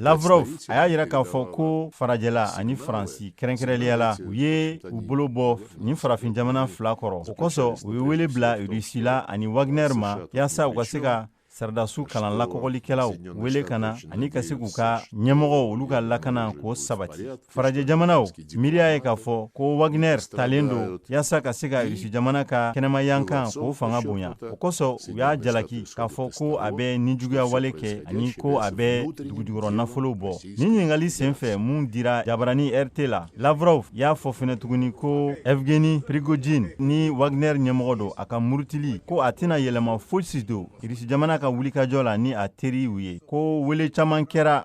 Lavrov a y'a yira k'a fɔ ko farajɛla ani faransi kɛrɛnkɛrɛnliya la u ye u bolo bɔ nin farafin jamana fila kɔrɔ o kosɔn u ye wele bila rusi la ani wagner ma yaasa u ka se ka saradasiw kalan lakɔgɔlikɛlaw wele ka na ani ka se k'u ka ɲɛmɔgɔw olu ka lakana k'o sabati farajɛ jamanaw miiriya ye k'a fɔ ko wagner talen don yaasa ka se ka rusi jamana ka kɛnɛmayankan k'o fanga bonya o kosɔn u y'a jalaki k'a fɔ ko a bɛ nijuguya wale kɛ ani ko a bɛ dugujukɔrɔ nafolo bɔ nin ɲininkali sen fɛ min dira jabarani rt la lavrov y'a fɔ fɛnɛ tuguni ko evgeni prigojin ni wagner ɲɛmɔgɔ don a ka murutili ko a tɛna yɛlɛma fosi don rusi jamana ka wulikajɔ la ni a teriw ye ko wele caman kɛra